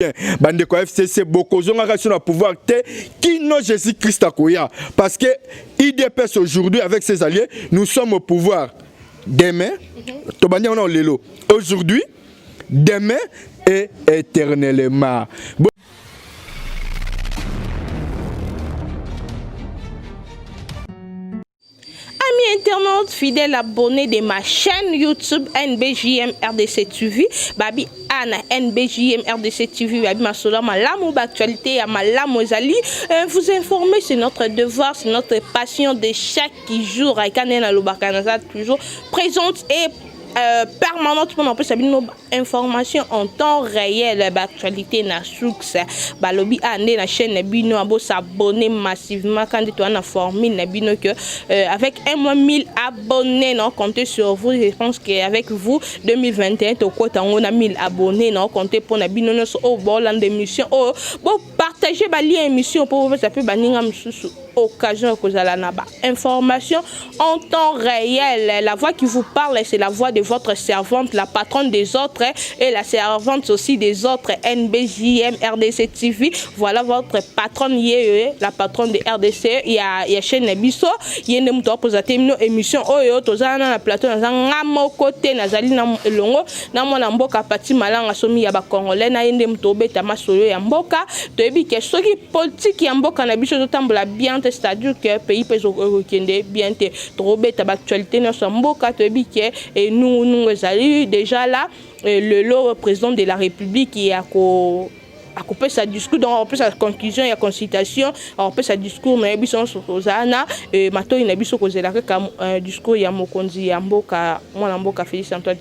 bien bandeko ya fcc bokozongaka biso na pouvoir te kino jésus christ akoya parce que idps aujourd'hui avec ses alliés nous sommes au pouvoir demain tobandi yango nao lelo aujourd'hui demain et éternellement Amis internautes, fidèles abonnés de ma chaîne YouTube NBJM RDC TV, Babi Anna NBJM RDC TV, Babi Masola Malamu, actualité à Malamu Ezali. Euh, vous informer, c'est notre devoir, c'est notre passion de chaque jour. Aïkanena Lubakanaza, toujours présente et Euh, permanente mpo na kopesa bino information en temps réel baactualité na source balobi a ah, nde na chaîne na bino ah, bosabonne massivement ka nde toa na formule na bino que euh, avec un mois 1000 abonné na compte sur vous je pense que avec vous 2021 tokota yango na 1000 abonné na compte mpo na bino nyonso oyo oh, bolanda émission oyo oh, Partagez ba lien émission pour vous appeler baninga mususu occasion kozala na ba information en temps réel. La voix qui vous parle c'est la voix de votre servante, la patronne des autres et la servante aussi des autres NBJM RDC TV. Voilà votre patronne yeye, la patronne de RDC ya ya chaîne na biso. Yende muto akozate mino émission oyo tozana na plateau na zanga moko te nazali na elongo na mwana mboka pati malanga somi ya bacongolais na ye nde moto obeta masolo ya mboka toyebi ke soki politike ya mboka na biso ezotambola bien te c'est-à-dire ke pays mpe ekokende bien te tokobeta baactualité nyonso ya mboka toyebi ke enungunungu ezali déjà là lelo président de la république ya ko akopesa discours donc akopesa conclusion ya consultation akopesa discours na ye biso nyonso tozala na eh, matoi na biso kozela kaka eh, discours ya mokonzi ya mboka mwana mboka félix antoine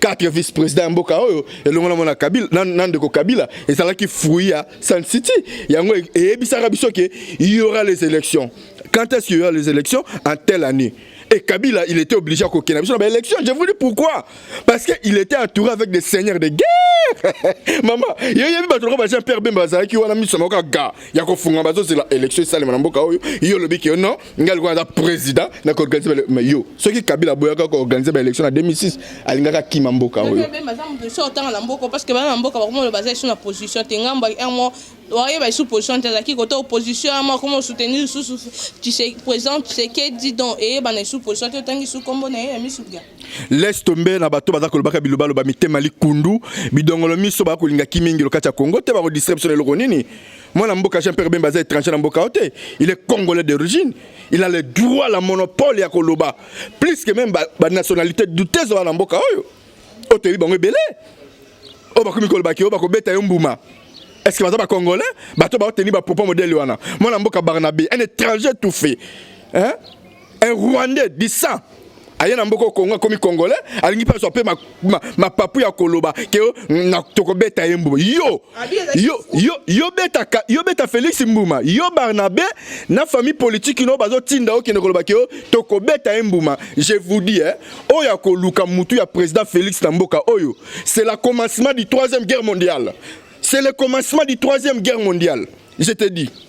quatre vice président ya mboka oyo elongo na mwana kabila na, na ndeko kabila ezalaki fruit ya sun city yango e, eyebisaka biso ke y aura les élections quand est-ce qu'il y aura les élections en telle année et kabila il était obligé à kokena biso na ba élections je vous dis pourquoi parce que il était entouré avec des seigneurs de guerre mama yo yebi bato lokola ba jean pierre bemba bazalaki wana miso moko ga ya kofunga bazozela élection esalema na mboka oyo yo olobi ke non ngai lokola naza président na koorganize ma yo soki kabila aboyaka koorganize baélection na 2006 alingaka kima mboka oyo otanga na mboka parce que bana na mboka bakomona baza lisusu na position te ngambo un mois oyeba lisusu position te azalaki kota opposition ama akoma soutenir lisusu président tshisekedi donc eyebana lisusu position te otangi lisusu nkombo na ye ya misuga laisse tombe na bato baza kolobaka bilobaloba mitema likundu bidongolo miso bakolinga kimingi lokati ya kongo te bakodistraire biso na eloko nini Mwana mboka Jean Pierre Bemba aza étranger na mboka ote. Il est congolais d'origine. Il a le droit la monopole ya koloba plus que même ba, ba nationalité douteuse wana mboka oyo. Ote bi bango ebele. Oyo bakomi koloba ki oyo bakobeta yo mbuma. Est-ce que baza ba congolais? Bato ba oteni ba propos modèle wana. Mwana mboka Barnabe, un étranger tout fait. Hein? un rwandais du sang aye na mboka kongo akomi congolais alingi mpe azwa mpe mapapu ya koloba ke tokobeta ye mbuma yo yo beta félix mbuma yo barnabe na famille politique ino bazotinda yo kende koloba ke tokobeta ye mbuma je vous dis eh, oyo akoluka motu ya président félix na mboka oyo c'est la commencement du troisième guerre mondiale c'est le commencement du troisième guerre mondiale je te dis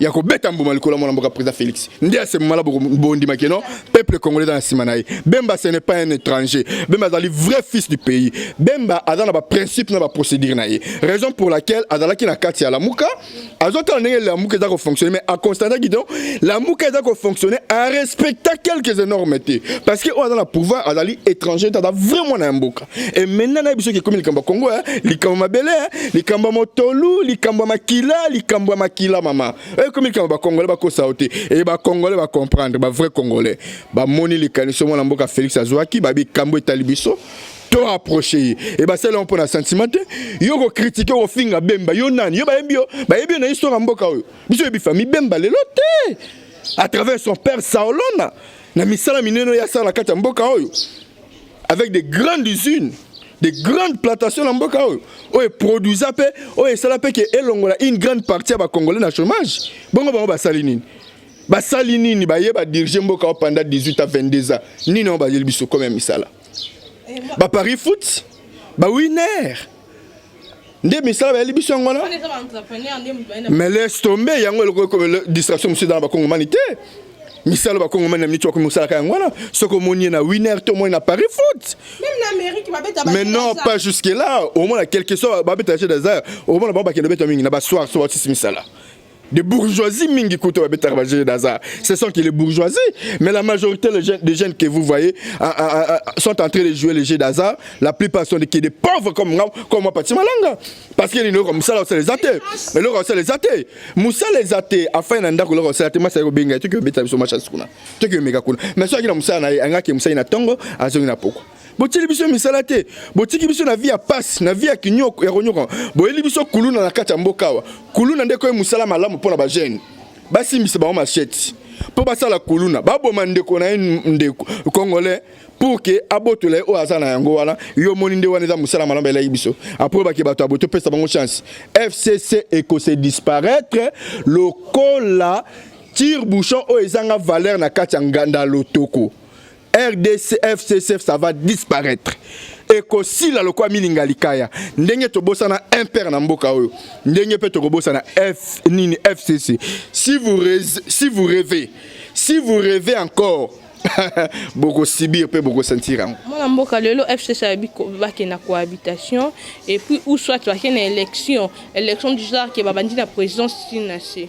ya kobeta mbuma likolo mwana mboka président Félix nde asemala bondima ke non peuple congolais dans la nsima na ye Bemba ce n'est pas un étranger Bemba azali vrai fils du pays Bemba aza na baprincipe na baprocédure na ye raison pour laquelle azalaki na kati ya lamuka azotala ndenge lamuka eza kofonctionne mais aconstataki donc lamuka eza kofonctionne arespecta quelques énormes te parce que oyo aza na pouvoir azali étranger te aza vrai mwana ya mboka Et maintenant, na biso qui comme likambo Congo, hein, likambo mabele, hein, likambo motolu, likambo makila, likambo makila mama. Et comme likambo ba congolais ba ko sauter et ba congolais ba comprendre, ba vrai congolais. Ba moni likaniso mwana mboka Felix Azwaki, ba bikambo etali biso. To approcher et ba sala pour na sentiment te. Yo ko critiquer au finga Bemba, yo nani? Yo ba yebi yo, ba yebi na histoire mboka oyo. Biso yebi famille Bemba lelo te. À travers son père Saolona, na misala mineno ya sala kati mboka oyo. avec des grandes usines des grandes plantations na mboka oyo oyo eproduisa mpe oyo esala mpe ke elongola une grande partie ya bacongolais na chômage bongo bango basali nini basali nini baye badirige mboka oyo pendant 18 à 22 ans nini yango bayeli biso comme ya misala baparis foot bawiner ba nde misala bayeli biso yango wana mais laisse tomber yango eloko distraction mosusu eza na bakongomani te misala bakongomani na miniti bakomi kosalaka yango wana soki omoni ye na winner to omoni na paris foot mais non pas jusque là omona quelque soit babeta jeu des arts omona bango bakende beta mingi na basoir so batisi misala des bourgeoisies mingi kutu babetaka bajeu d'hasard ce sont que les bourgeoisies mais la majorité des jeunes, des jeunes que vous voyez euh, euh, euh, sont en train de jouer les jeux d'hasard la plupart sont des, des pauvres comme nga comme moi pati malanga parce que eloko mosala osala eza te eloko osala eza te mosala eza te afai na ndako eloko osala te masi ayaki kobenga ye toki obeta biso machasi kuna toki omeka kuna mais soki na mosala na ye angaki mosali na ntongo azongi na poko botyeli biso misala te botiki biso na vi ya pasi na vi ya kinyoko ya konyoka boyeli biso kuluna na kati ya mboka awa kuluna ndeko ye mosala malamu mpo na bagene basimbisa bango masheti mpo basala kuluna baboma ndeko na ye ndeko congolais pour ke abotola ye oyo aza na yango wana yo omoni nde wana eza mosala malamu elaki biso apres bake bato ya boye topesa bango chance fcc ekose disparaître lokola tire bouchon oyo ezanga valeur na kati ya nganda lotoko rdc fcc ça va disparaître ekosila lokola milinga likaya ndenge tobosana impere na mboka oyo ndenge mpe tokobosana f nini fcc si vous, rêvez, si vous rêvez si vous rêvez encore bokosibir mpe bokosentir yango mwana mboka lelo fcc ayebi bake na cohabitation et puis ou soit bake na élection élection du genre ke babandi na présidence tina se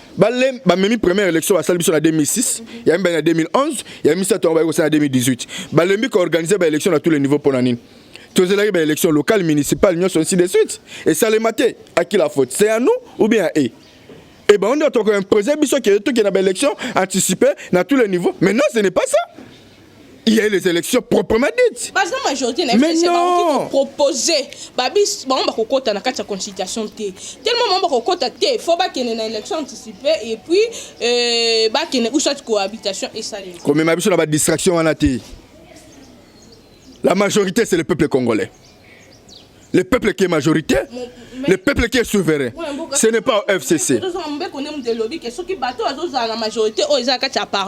bale bamemi première élection basali biso na 2006 ya mibale na 2011 ya misato yango bayekosala na 2018 balembi koorganize baélection na tous les niveaux mpo na nini tozelaki baélection locale municipale nyonso ainsi de suite esalema te aki la faute c'est à nous ou bien à e e bango nde tokoimpose biso ke tokende na baélection anticipe na tous les niveaux maintenant ce n'est pas ça il y a eu les élections proprement dites. Par exemple, majorité na FCC ba proposé ba bis ba on ba kokota na kati ya consultation te. Tellement ba kokota te, faut ba kene na élection anticipée et puis euh ba kene ou soit cohabitation et ça. Comme ma biso na ba distraction wana te. La majorité c'est le peuple congolais. Le peuple qui est majorité, le peuple qui est souverain. Ce n'est pas au FCC.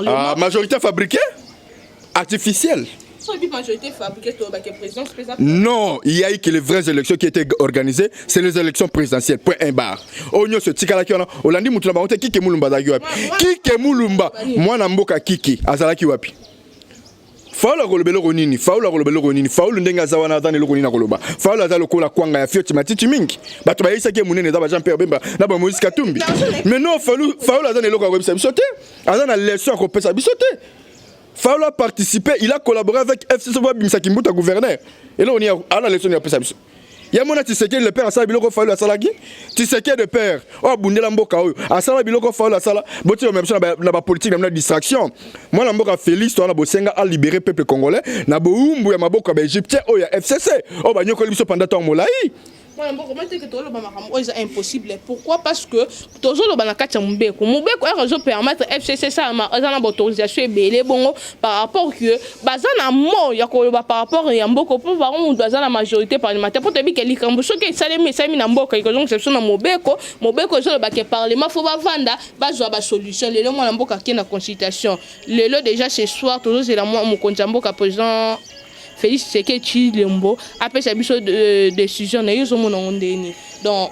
Ah, majorité fabriquée Artificielle non, il y a eu que les vraies élections qui étaient organisées, c'est les élections présidentielles. Point un bar. Onyo se tikala ki wana, olandi mutu na bango te kike mulumba zaki wapi. Kike mulumba, mwana mboka kiki azalaki wapi. Faulu akoloba eloko nini? Faulu akoloba eloko nini? Faulu ndenge aza wana aza na eloko nini akoloba? Faulu aza lokola kwanga ya fioti matiti mingi. Bato bayebisaki ye monene eza ba Jean Pierre Bemba na ba Moïse Katumbi. Mais non, Faulu Faulu aza na eloko ya koyebisa biso te. Aza na leçon ya kopesa biso te. Faulu a participer, il a collaboré avec FCC pour abimisa Kimbuta gouverneur. Eloko nini ya- ana leçon nini ya kopesa biso? ya mona tisekedi le père asala biloko fayulu asalaki tisekedi le père oyo abundela mboka oyo asala biloko fayulu asala botikama biso na bapolitike na bino na distraction mwana mboka félix towana bosenga alibere peuple congolais na bowumbu ya maboko ya baegyptien oyo ya fcc oyo banyokoli biso panda ntango molai mwana mboka mateke toloba makambo oyo eza impossible pourquoi parce que tozoloba na kati ya mobeko mobeko heure ezo permettre fcc esalama eza na baautorisation ebele bongo par rapport que baza na mo ya koloba par rapport ya mboka mpo bango moto aza na majorité parlementaire mpo toyebi ke likambo soki esalemi esalemi na mboka ekozongisa biso na mobeko mobeko ezoloba ke parlement fo bavanda bazwa basolution lelo mwana mboka ake na consultation lelo déjà ce soir tozozela mwa mokonzi ya mboka président félix tseke tshilombo apesa biso euh, décision na ye ozomona ngo ndeni donc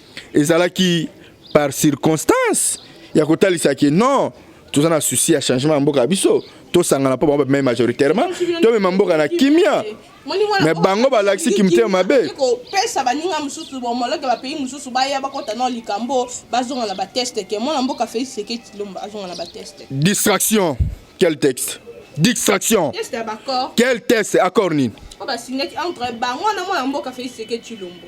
ezalaki par circonstance ya kotalisa ke non toza na souci ya changement ya mboka ya biso tosangana mpo bango bamei majoritairement tomema mboka na kimia me bango balakisi kimotema mabe kopesa baninga mosusu bomoloke bapays mosusu baya bakota na likambo bazonga na bateste ke mwana mboka fei seke tilomba azonga na bateste distraction quel texte distraction quel test accord nini oyo basingaki entre bango na mwana mboka fei seke tilombo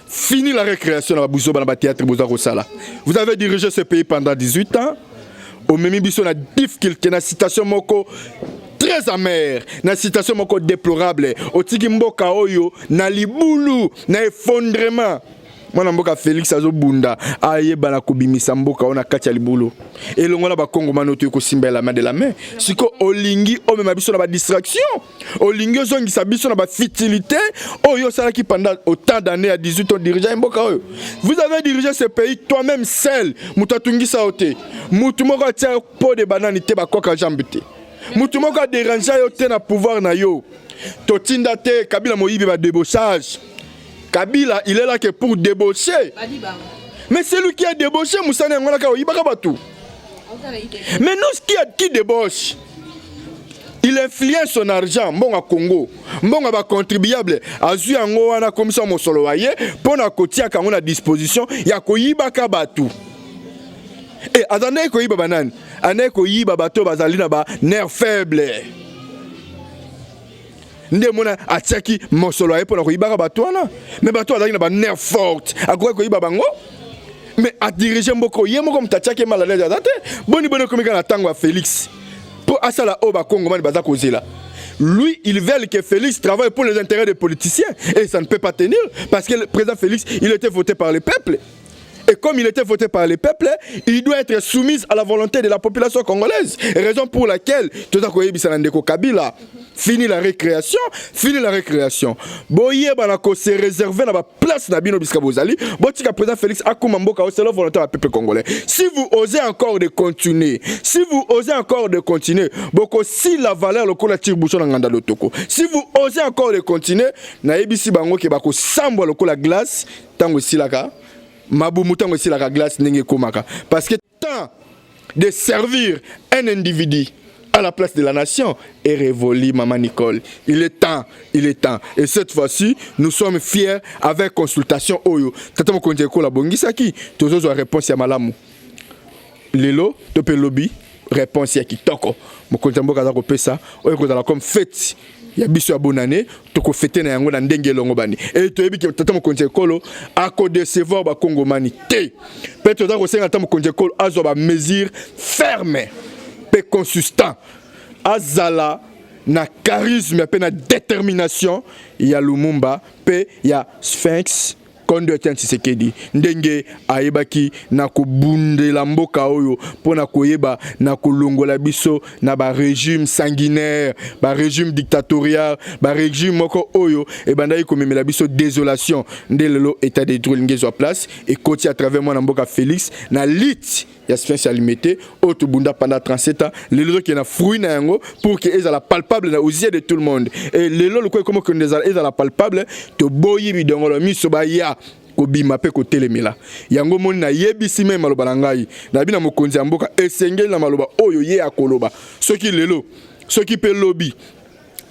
Fini la récréation na babuzoba na ba théâtre boza kosala. Vous avez dirigé ce pays pendant 18 ans. Omemi biso na difficulté na citation moko très amère na citation moko déplorable otiki mboka oyo na libulu na effondrement mwana mboka félix azobunda ayeba na kobimisa mboka oyo na kati ya libulu elongo na bakongomani oyo toyei kosimba elama de la main sikoyo olingi omema biso na badistraction olingi ozongisa biso na bafitilité oyo osalaki pendant autant d'année ya 18 ans dirigea mboka oyo vous avez dirigé ce pays toi même seul moto atungisa yo te moto moko atia yo po de banani te bakoka jambe te moto moko aderangea yo te na pouvoir na yo totinda te kabila moyibi badebochage kabila il est là que pour débaucher mais celui qui a débauché mosani yango naka oyibaka bato mais nous qui, qui débauche il influence son argent mbongo Congo mbongo ba contribuable azui yango wana komisa mosolo wa ye mpo na kotiaka yango na disposition ya koyibaka bato e aza ndenge koyiba banani andenge koyiba bato bazali na ba nerf faible nde mona atiaki mosolo aye mpo na koyibaka bato wana me bato oyo azalaki na banerf forte akokaki koyiba bango me adirige mboka oyo ye moko moto atiaki maladie aza te boni boni ekomika na ntango ya félix mpo asala oyo bakongomani baza kozela lui il veulent que félix travaille pour les intérêts des politiciens et ça ne peut pas tenir parce que le président félix il était voté par le peuple Et comme il était voté par les peuples, il doit être soumis à la volonté de la population congolaise. Raison pour laquelle tout à coup Ndeko Kabila fini la récréation, fini la récréation. Boye banako se réserver na ba place na bino biska bozali. Botika président Félix akuma mboka c'est la volonté du peuple congolais. Si vous osez encore de continuer, si vous osez encore de continuer, boko si la valeur lokola tire bouchon na nganda lotoko. Si vous osez encore de continuer, na ebisi bango ke bako sambwa lokola glace ntango esilaka mabumu ntango esilaka glace ndenge ekomaka parce que temps de servir un individu à la place de la nation et révolue, Maman Nicole. Il est temps, il est temps. Et cette fois-ci, nous sommes fiers avec consultation Oyo. Tata Mokonde Kola Bongisaki, Tozozo réponse à Malamu. lelo to mpe lobi réponse ya kitoko mokonzi ya mboka aza kopesa oyo ekozala comme fete ya biso ya bonane tokofete na yango na ndenge elongobani e toyebi ke tata mokonzi ya ekolo akodecevoir bakongomani te mpe toza kosenga tata mokonzi ya ekolo azwa bamesure ferme mpe consistant azala na charisme mpe na détermination ya lumumba mpe ya sphinx kondo ya tshisekedi ndenge ayebaki na kobundela mboka oyo mpo na koyeba na kolongola biso na baregime sanguinaire baregime dictatorial baregime moko oyo ebandaki komemela biso désolation nde lelo état de droit elingi ezwa place ekoti à travers mwana mboka félix na lite ya science ya limete oyo tobunda panda 37 ans lelo ezokende na fruit na yango pour que ezala palpable na osie de tout le monde e lelo lokola ekomi okende ezala palpable toboyi bidongolo miso baya kobima mpe kotelemela yango omoni nayebisi meme maloba na ngai nayebi na mokonzi ya mboka esengeli na maloba oyo ye akoloba soki lelo soki mpe lobi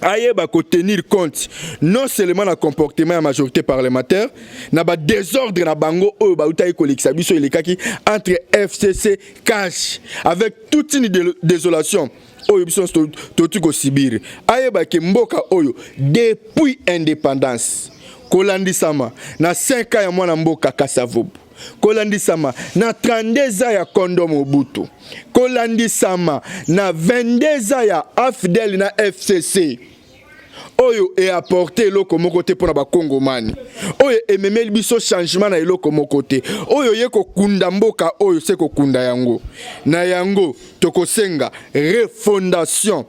ayeba ko tenir compte non seulement na comportement ya majorité parlementaire na ba désordre na bango oyo bautaki kolekisa biso elekaki entre FCC cash avec toute une désolation oyo biso totuki kosibir ayeba ke mboka oyo depuis indépendance kolandisama na 5 ans ya mwana mboka Kasavubu kolandisama na 32 ans ya kondo Mobutu, kolandisama na 22 ans ya AFDL na FCC oyo eaporte eloko moko te mpo na bakongomani oyo ememeli biso changement na eloko moko te oyo ye kokunda mboka oyo se kokunda yango na yango tokosenga refondation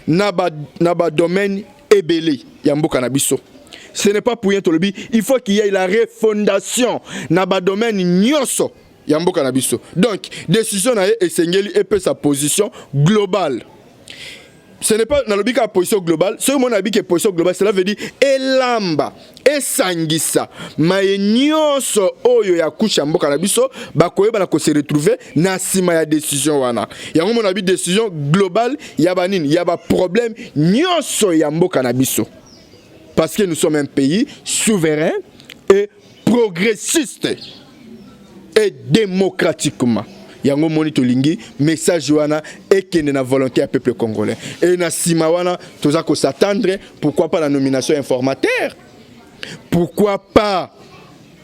na ba na ba domaine ebele ya mboka na biso ce n'est pas pour rien tolobi il faut qu'il y ait la refondation na ba domaine nyonso ya mboka na biso donc décision na ye esengeli epesa position globale ce n'est pas nalobi kaka position globale soki omoni nalobi ke position globale cela veut dire elamba esangisa maye nyonso oyo ya kusha mboka na biso bakoyeba na kose retrouve na nsima ya decision wana yango mona bi decision globale ya banini ya baproblème nyonso ya mboka na biso parce que nous sommes un pays souverain et progressiste et démocratiquement yango moni tolingi message wana ekende na volonté ya peuple congolais et na sima wana toza ko s'attendre pourquoi pas la nomination informateur pourquoi pas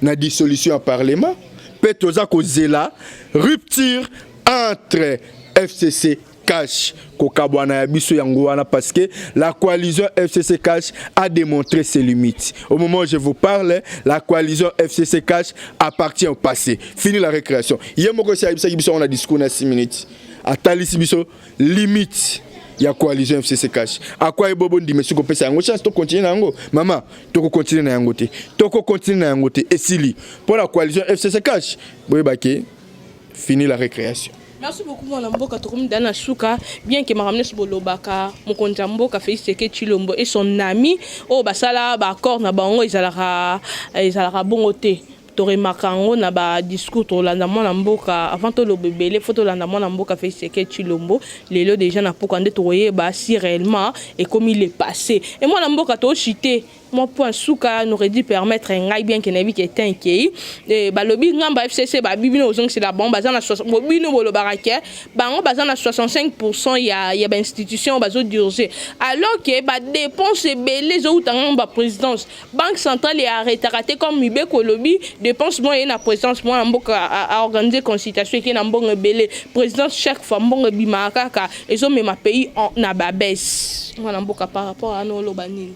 na dissolution ya parlement mpe toza kozela rupture entre fcc Cash, kokabwana ya biso yango wana parce que la coalition FCC Cash a démontré ses limites. Au moment où je vous parle, la coalition FCC Cash appartient au passé. Fini la récréation. Hier moko si ayebisaki biso on a discours na 6 minutes. Atalisi biso limite ya coalition FCC Cash. Akwa ebobo ndime siko pesa yango chance to continuer na yango. Mama, toko continuer na yango te. Toko continuer na yango te. Esili. Pour la coalition FCC Cash, boyeba ke Fini la récréation. Merci beaucoup mwana mboka tokomi dana suka bien que makambo nyonso bolobaka mokonzi ya mboka Félix Tshisekedi Tshilombo et son ami oyo basala ba accord na bango ezalaka ezalaka bongo te toremaka yango na ba discours tolanda mwana mboka avant toloba ebele fo tolanda mwana mboka Félix Tshisekedi Tshilombo lelo deja na pokwa nde tokoyeba si réellement ekomi le passé et mwana mboka tochite mwa point suka n'aurait dû permettre ngai bien que nayebi ke temps ekei eh, balobi ngamba fcc babibi na kozongisela bango baza na bobino bolobaka ke bango baza na 65 pourcent ya, ya bainstitution bazodurge alors ke badepense ebele ezowuta ngango baprésidence banque centrale earretaka te comme mibeko elobi dépense moko eye na présidence mwana mboka aorganize consultation eke na mbongo ebele présidence chaque fois mbongo ebimaka kaka ezomema pays na babese mwana mboka par rapport ana oloba nini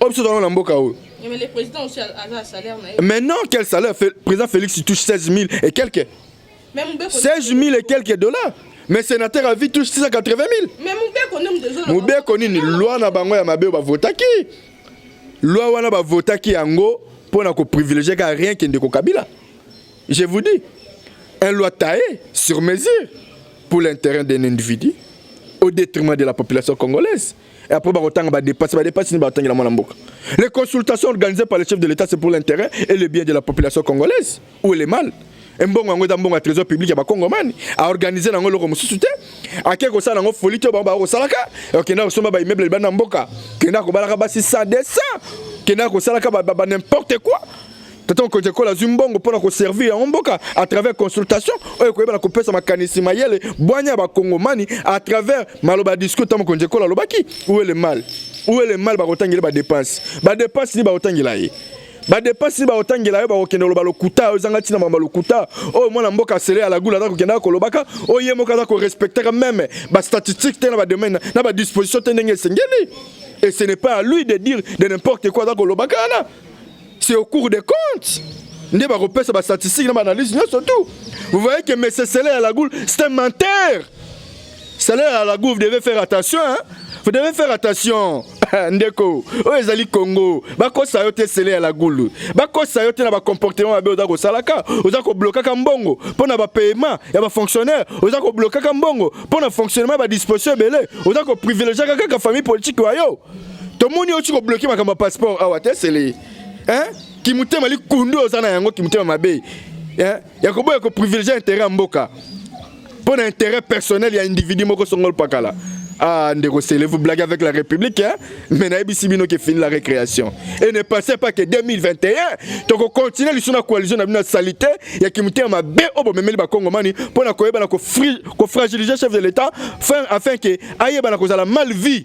oyo biso tozalaka na mboka oyo Mais le président aussi a a un salaire naïf. maintenant quel salaire Fe- président félix il touche 16 000 et quelques Mais Mubeko. 16 000 et quelques dollars mais sénateur à vie touche 680 000 Mais Mubeko nde moto ezoloba. mobeko nini loi na bango ya mabe oyo bavotaki loi wana bavotaki yango mpo na koprivilégie kaka rien kende kokabila je vous dis un loi taillé sur mesure pour l'intérêt d'un individu au détriment de la population congolaise Et après, bakotanga ba dépasse, ba dépasse ni batanga la mwana mboka. Les consultations organisées par le chef de l'État, c'est pour l'intérêt et le bien de la population congolaise. Où est le mal? mbongo yango eza mbongo ya trésor public ya bakongomani aorganize nango eloko mosusu te ake kosala nango foli te bango bakosalaka okenda kosomba baimmeuble libanda mboka kenda kobalaka basi 100 200 kenda kosalaka ba n'importe quoi Tata mokonzi ekolo azwi mbongo mpo na koservir yango mboka à travers consultation oyo ekoyeba na kopesa makanisi mayele bwanya ya bakongomani à travers maloba ya discours tata mokonzi ekolo alobaki où est le mal où est le mal bakotangela badepense badepense nini bakotangela ye badepense nini bakotangela yo bakokende koloba lokuta oyo ezanga ntina mamba lokuta oyo mwana mboka asele ya lagula aza kokendaka kolobaka oyo ye moko aza korespectaka meme bastatistique te na badomaine na badisposition te ndenge esengeli et ce n'est pas à lui de dire de n'importe quoi aza kolobaka wana c'est au cours des comptes nde bakopesa bastatistique na baanalyse nyonso tout vous voyez que monsieur sele ya lagoule c'est un menteur sele ya lagoule vous devez faire attention hein? vous devez faire attention ndeko oyo ezali congo bakosa yo te sele ya lagulu bakosa yo te na bacomportement mabe oza kosalaka oza koblokaka mbongo mpo na bapaiement ya bafonctionnaire oza koblokaka mbongo mpo na fonctionnement ya badisposition ebele oza koprivilegiaka kaka famille politike wa yo tomoni oti kobloke makambo ya passeport awa te sele hein? kimotema likundu oza na yango kimotema mabe hein? ya koboya koprivilegie intérêt ya mboka mpo na intérêt personnel ya individu moko songolo pakala Ah, Ndeko Sele, vous blaguez avec la République, hein? mais Naïbisi Bino qui finit la récréation. Et ne pensez pas que 2021, donc on continue les la coalition de salité, il y a qui me ma B au bon même le Congomani pour la cohésion, pour fragiliser le chef de l'État, afin que aïe, la cause la mal vie.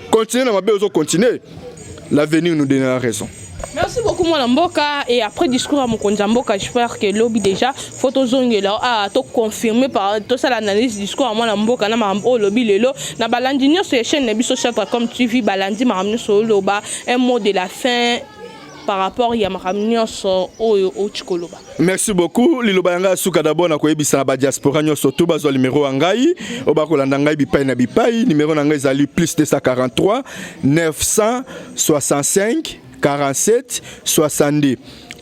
Continue na mabe ozo continue. L'avenir nous donnera raison. Merci beaucoup mwana mboka et après discours ya mokonzi ya mboka j'espère que lobi déjà faut tozongela ah to confirmer par tosala analyse discours ya mwana mboka na makambo oyo olobi lelo na balandi nyonso ya chaîne na biso Chatracom TV balandi makambo nyonso oloba un mot de la fin par rapport ya makambo nyonso oyo outi koloba merci beaucoup liloba ya ngai ya suka dabord na koyebisa na badiaspora nyonso to bazwa limero ya ngai oyo bakolanda ngai bipai na bipai limero na ngai ezali plus 243 965 47 62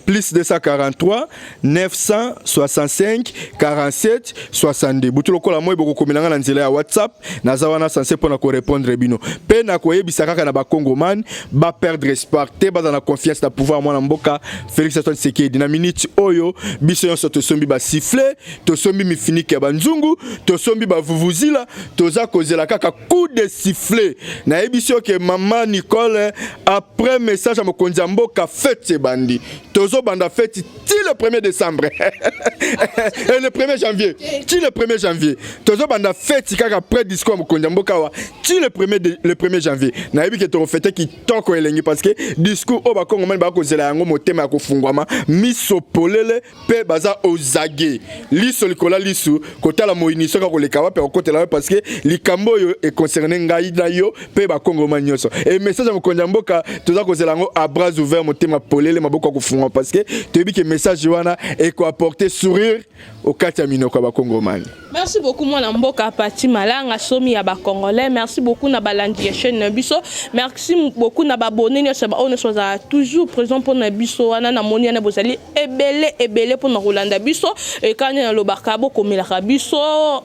plus 243 965 47 62 butu lokola moi bokokomela ngai na nzela ya whatsapp naza wana sanse mpo na korepondre bino mpe nakoyebisa kaka na bakongomani baperdre espoir te baza na confiance na pouvoir mwana mboka félix antoine sekedi na minute oyo biso nyonso tosombi basifle tosombi mifinike ya banzungu tosombi bavuvuzila toza kozela kaka coup de sifflet nayebisi yo ke mama nicole après message ya mokonzi ya mboka fete ebandi tozobanda feti ti le 1er décembre et le 1er janvier ti le 1er janvier tozobanda feti kaka après discours ya mokonzi ya mboka awa ti le 1er de- le 1er janvier nayebi ke tokofete kitoko elengi parce que discours oyo bakongomani bakozela yango motema ya kofungwama miso polele mpe baza ozage liso likola lisu kotala moyini soki akoleka wapi akokotela wapi parce que likambo oyo econcerne ngai na yo mpe bakongoma nyonso e message ya mokonzi ya mboka toza kozela yango à bras ouvert motema polele maboko ya kofunga parce que toyebi ke message wana ekoapporte sourire okati ya minoko ya bakongomani Merci beaucoup mwana mboka Pati Malanga somi ya ba congolais. Merci beaucoup na balandi ya chaîne na biso. Merci beaucoup na babone nyonso ba ono soza toujours présent pour na biso wana na moni na bozali ebele ebele pour na kolanda biso et quand na lobaka bo komelaka biso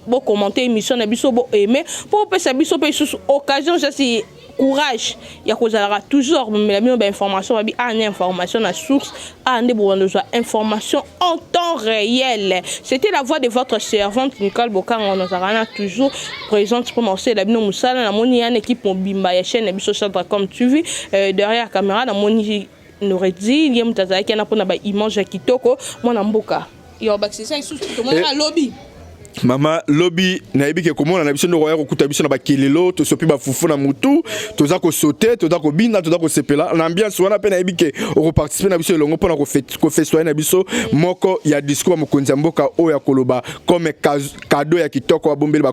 bo commenter émission na biso bo aimer pour pesa biso pe sous occasion je suis courage ya kozalaka toujours komemela bino bainformation babi awa ah, na information na source awa ah, nde bobanda ozwa information en temps réel c'était la voix de votre servante nicole bokanga nazalaka na toujours présente mpo na kosalela bino mosala namoni ya na équipe mobimba ya chaîne na biso chadra comme tu vis euh, derrière caméra namoni Noredine ye moto azalaki wana mpona ba image ya kitoko mwana mboka yo bakisisa lisusu tomonaka eh. lobi mama lobi nayebi ke komona na biso nde okoya kokuta biso na bakelelo tosopi bafufu na motu toza kosote toza kobina toza kosepela na ambiance wana mpe nayebi ke okoparticipe na biso elongo mpona kofestoye na biso moko ya discours ya mokonzi ya mboka oyo ya koloba comme kado ya kitoko babombeli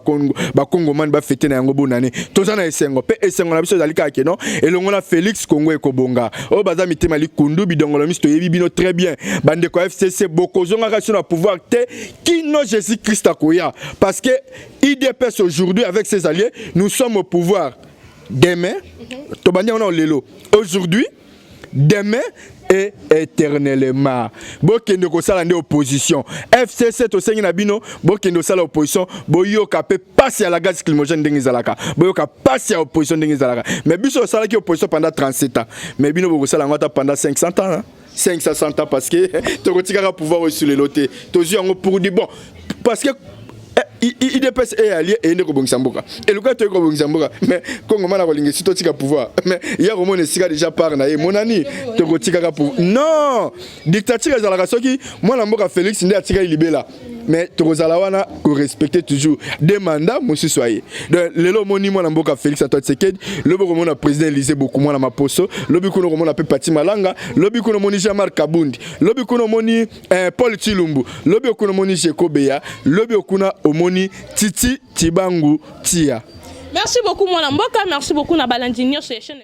bakongomani bafete na yango bonane toza na esengo mpe esengo na biso ezali kaka keno elongo na félix kongo ekobonga oyo baza mitema likundu bidongolo miso toyebi bino très bien bandeko ya fcc bokozongaka biso na pouvoir te kino jésus christ akoya parce que idps aujourd'hui avec ses alliés nous sommes au pouvoir demain mhm. tobandi yango na lelo aujourd'hui demain et éternellement bokende kosala nde opposition fcc tosengi na bino bokende kosala opposition boyoka mpe pasi ya la gaz climogène ndenge ezalaka boyoka pasi ya opposition ndenge ezalaka mais biso osalaki opposition pendant 37 ans mais bino bokosala yango ata pendant 500 ans hein? 560 ans parce que tokotikaka pouvoir oyo esulelo te tozwi yango pour du bon parce que eh, idps e alie eyende kobongisa mboka eluka toyei kobongisa mboka mais kongo mana kolinga esi totika pouvoir mais ya komona esika déjà part na ye monani tokotikaka pouvoir non dictature ezalaka soki mwana mboka félix nde atikaki libela mais tokozala wana korespecte toujours de manda mosusu aye donc lelo omoni mwana mboka félix antoine tshisekedi lobi okomona président élise boku mwana maposo lobi kuna okomona mpe pati malanga lobi kuna omoni jean marc kabundi lobi kuna omoni Eh, Paul Chilumbu, lobi okuna moni Shekobeya, lobi okuna omoni Titi Tibangu Tia. Merci beaucoup mwana mboka, merci beaucoup na balandi nyonso ya chaîne.